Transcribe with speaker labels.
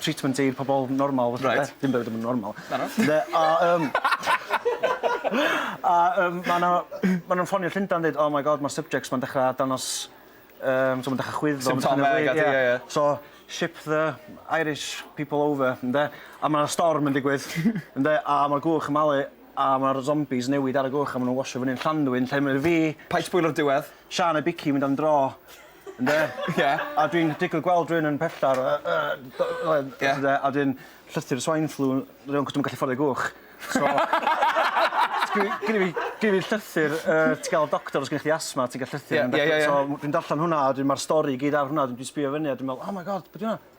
Speaker 1: treatment i pobol normal fatha... Reit. ...dim bywyd yn
Speaker 2: normal. Na na.
Speaker 1: Ynde a yym
Speaker 2: a yym ma' 'na
Speaker 1: ma' nw'n ffonio Llundan deud oh my God ma'r subjects 'ma'n dechra dangos yym t'o' ma'n dechra chwyddo... Symptomeg a pethe ie ie.
Speaker 2: So ship
Speaker 1: the Irish people over ynde a ma' 'na storm yn digwydd ynde a ma'r gwch yn malu a ma'r zombies newid ar y gwch a ma' nw'n washio fyny'n Llanddwyn lle ma' fi... Paid sbwylo'r diwedd.
Speaker 2: ...Siân a Biggie mynd am
Speaker 1: dro Ynde? Ie. A
Speaker 2: dwi'n digwydd
Speaker 1: gweld rywun yn pella ar y y do- oedd... Ie. ...t'od e a 'dyn llythyr swine flu rywun acos dw'm yn gallu fforddio gwch so dwi gynno fi gynno fi llythyr yy ti ga'l doctor os gennych chdi asthma ti'n ga'l llythyr... Ie ie ie ie. ...so dwi'n darllen hwnna a 'dyn ma'r stori i gyd ar hwnna a dwi 'di sbio fyny a dwi me'wl oh my God be' 'di wnna?